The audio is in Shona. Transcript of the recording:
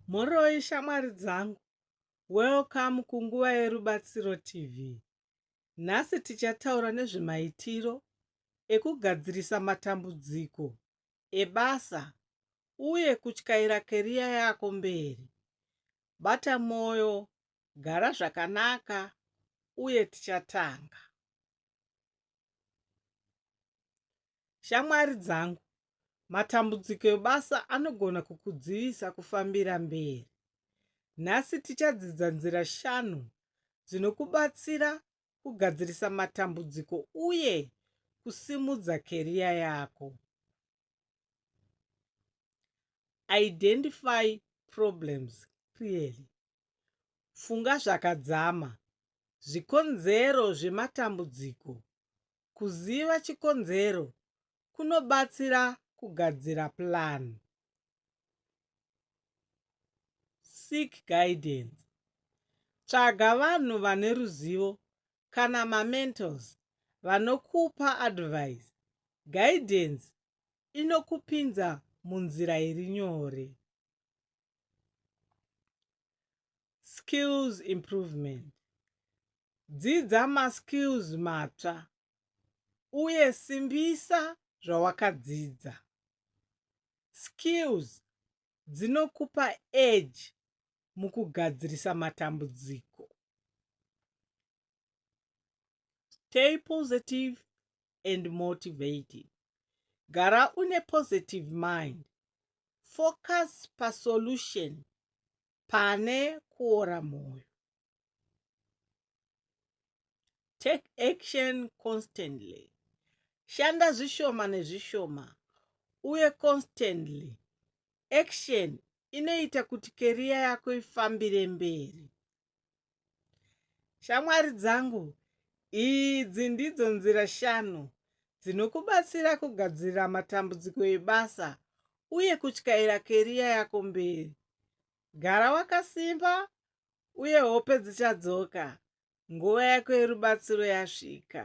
Mhoroi shamwari dzangu, welcome kunguva yerubatsiro TV. Nhasi tichataura nezvemaitiro ekugadzirisa matambudziko ebasa uye kutyaira keriya yako mberi. Bata mwoyo, gara zvakanaka uye tichatanga. Shamwari dzangu, matambudziko ebasa anogona kukudzivisa kufambira mberi. Nhasi tichadzidza nzira shanu dzinokubatsira kugadzirisa matambudziko uye kusimudza keriya yako. Identify problems clearly. Funga zvakadzama zvikonzero zvematambudziko Kuziva chikonzero kunobatsira kugadzira plan. Seek guidance. Tsvaga vanhu vane ruzivo kana mamentors vanokupa advice. Guidance inokupinza munzira iri nyore. skills improvement dzidza maskills matsva uye simbisa zvawakadzidza skills dzinokupa edge mukugadzirisa matambudziko stay positive and motivated. Gara une positive mind. Focus pasolution pane kuora moyo. Take action constantly. Shanda zvishoma nezvishoma uye constantly. Action inoita kuti keriya yako ifambire mberi. Shamwari dzangu, idzi ndidzo nzira shanu dzinokubatsira kugadzirira matambudziko ebasa uye kutyaira keriya yako mberi. Gara wakasimba uye hope dzichadzoka nguva yako yerubatsiro yasvika.